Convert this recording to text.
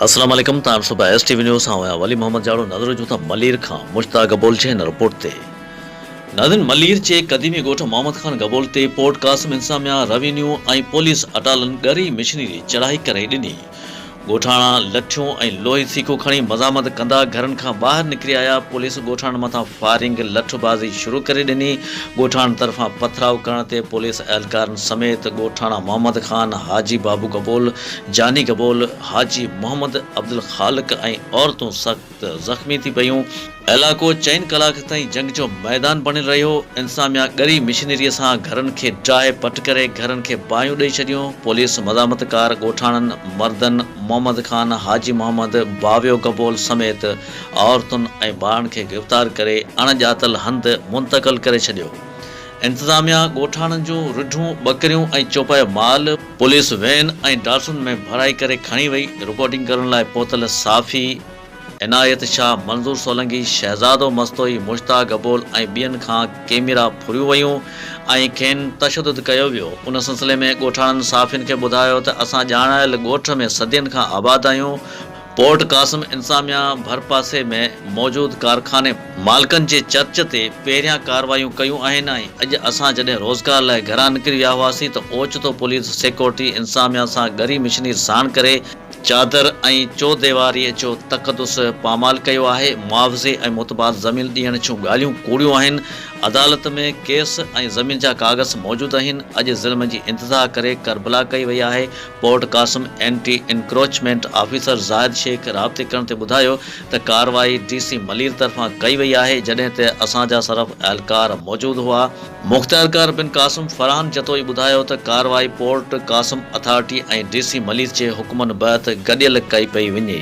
السلام عليڪم تائم صبح ايس ٽي وي نيوز سان هيا ولي محمد جاڙو نظر جو ته ملير کان مشتاق گبول جي هن رپورٽ تي ناظرين ملير جي قديمي ڳوٺ محمد خان گبول تي پورٽ قاسم انساميا روينيو ۽ پوليس اٽالن ڳري مشنري چڙهائي ڪري ڏني ڳوٺاڻا لٺيون ۽ لوهي سيخون کڻي مزاحمت ڪندا گهرن کان ٻاهر نڪري آيا، پوليس ڳوٺاڻن مٿان فائرنگ، لٺ بازي، شروع ڪري ڏني، ڳوٺاڻن طرفان پٿراء ڪرڻ تي پوليس اهلڪارن سميت ڳوٺاڻا محمد خان، حاجي بابو گبول، جاني گبول، حاجي محمد، عبدالخالق ۽ عورتون سخت ته زخمي ٿي پيون. علائقو چئن ڪلاڪ تائين جنگ جو ميدان بڻيل رهيو، انتظاميا ڳري مشينري سان گهرن کي ڊاهي پٽ ڪري گهرن کي باهيون ڏئي ڇڏيون، پوليس مزاحمت ڪار ڳوٺاڻن، مردن، محمد خان، حاجي محمد، باويو گبول سميت عورتن ۽ ٻارن کي گرفتار ڪري اڻ ڄاتل هنڌ منتقل ڪري ڇڏيو. انتظاميا ڳوٺاڻن جون رڍون، ٻڪريون ۽ چوپايو مال پوليس وين ۽ ڊاٽسن ۾ ڀرائي ڪري کڻي وئي، رپورٽنگ ڪرڻ لاء پهتل صحافي عنايت شاهه، منظور سولنگي، شهزادو مستوئي، مشتاق گبول ۽ ٻين کان ڪيميرا ڦريون ويون ۽ کين تشدد ڪيو ويو، ان سلسلي ۾ ڳوٺاڻن صحافين کي ٻڌايو ته اسان ڄاڻايل ڳوٺ ۾ صدين کان آباد آهيون، پورٽ قاسم انتظاميا ڀرپاسي ۾ موجود ڪارخاني مالڪن جي چرچ تي پهريان ڪارروايون ڪيون آهن ۽ اڄ اسان جڏهن روزگار لاء گهران نڪري ويا هئاسين ته اوچتو پوليس سيڪورٽي انتظاميا سان ڳري مشنير ساڻ ڪري چادر ۽ چوديواريء جو تقدس پامال ڪيو آهي، معاوضي ۽ متبادل زمين ڏيڻ جون ڳالهيون ڪوڙيون آهن، عدالت ۾ ڪيس ۽ زمين جا ڪاغذ موجود اهن، اڄ ظلم جي انتظاهه ڪري ڪربلا ڪئي وئي آهي، Port Qasim anti encroachment officer Zahid Shaikh رابطي ڪرڻ تي ٻڌايو ته ڪارروائي ڊي سي ملير طرفان ڪئي وئي آهي جڏهن ته اسان جا صرف اهلڪار موجود هئا، مخت اهلڪار بن قاسم فرحان جتوئي ٻڌايو ته ڪارروائي Port Qasim authority ۽ D C Malir جي حڪمن بهت گڏيل ڪئي پئي وڃي.